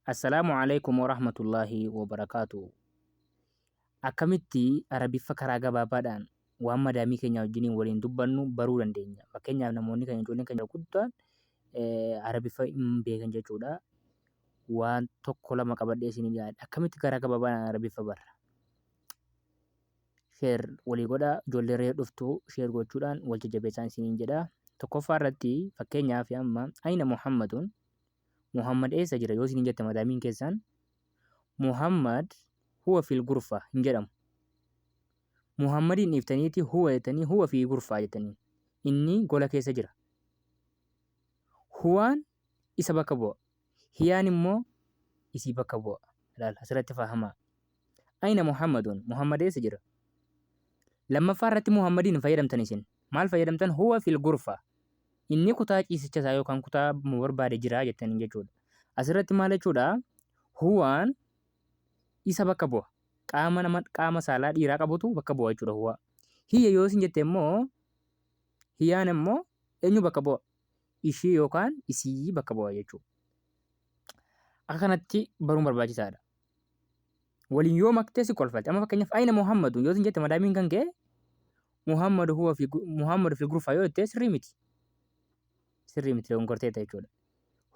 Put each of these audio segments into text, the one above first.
Assalaamu Alaikum Warahmatullaahi Wabarakaatuhu Akkamitti Arabiffa karaa gabaabaadhaan waan madaamii keenyaa wajjiniin waliin dubbannu baruu dandeenya. Fakkeenyaaf namoonni keenya ijoolleen keenya guddaan Arabiffa hin beekan jechuudha. Waan tokko lama qabadhee isin dhiyaadha. Akkamitti karaa gabaabaadhaan Arabiffa barra? Sheer walii godha ijoollee reef dhuftu sheer gochuudhaan wal jajjabeessaan isiniin jedha. Tokkoffaa irratti fakkeenyaaf amma Aina Muhammadun Muhammad eessa jira yoo isiniin jette madaamiin keessaan Muhammad huwa fil gurfa hin jedhamu. Muhammadiin dhiiftaniiti huwa jettanii huwa fi gurfaa jettanii inni gola keessa jira. Huwaan isa bakka bu'a. Hiyaan immoo isii bakka bu'a. Ilaal asirratti fahamaa. Ayna Muhammadun? Muhammad eessa jira? Lammaffaa irratti Muhammadiin hin fayyadamtan isin. Maal fayyadamtan? Huwa fil gurfa. Inni kutaa ciisicha isaa yookaan kutaa mu barbaade jira jettaniin jechuudha. Asirratti maal jechuudha? Huwaan isa bakka bu'a. Qaama nama qaama saalaa dhiiraa qabutu bakka bu'a jechuudha huwa. Hiyya yoo isin jette immoo hiyaan immoo eenyu bakka bu'a? Ishii yookaan isii bakka bu'a jechuudha. Akka kanatti baruun barbaachisaadha. waliin yoo maktee si kolfalti amma fakkeenyaaf ayina muhammadun yoo sin jette madaamiin kan kee muhammadu huwa fi muhammadu fi gurfaa yoo jettee sirrii miti sirrii miti leewwan gorteetta jechuudha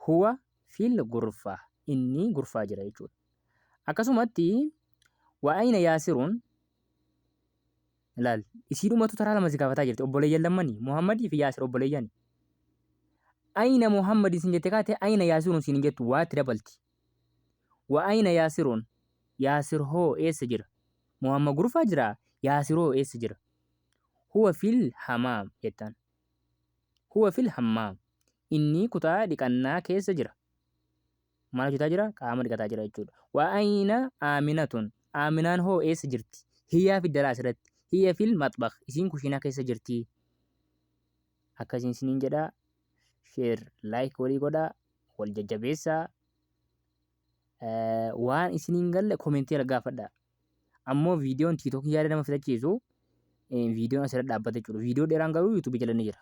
huwa fil gurfaa inni gurfaa jira jechuudha akkasumatti waa ayina yaasiruun laal isii dhumatu taraa lama si gaafataa jirti obboleeyyan lammanii muhammadii fi yaasir obboleeyyani ayina muhammadin sin jette kaate ayina yaasiruun sin hin jettu waatti dabalti Wa ayna Yaasirun? Yaasir hoo eessa jira? Muhamma gurfaa jiraa? Yaasir hoo eessa jira? Huwa fil hamaam jettaan. Huwa fil hammaam. Inni kutaa dhiqannaa keessa jira. Maal hojjetaa jira? Qaama dhiqataa jira jechuudha. Wa ayna Aaminatun? Aaminaan hoo eessa jirti? Hiyaa fi dalaas irratti. Hiya fil maxbakh. Isiin kushiinaa keessa jirti. akkasiin isiniin jedha share like walii godha wal jajjabeessa Eh, waan isiniin galle komentii irra gaafadha ammoo viidiyoon tiiktookii yaada nama fitachiisu eh, viidiyoon asirra dhaabbata jechuudha viidiyoo dheeraan garuu yuutuubii jala ni jira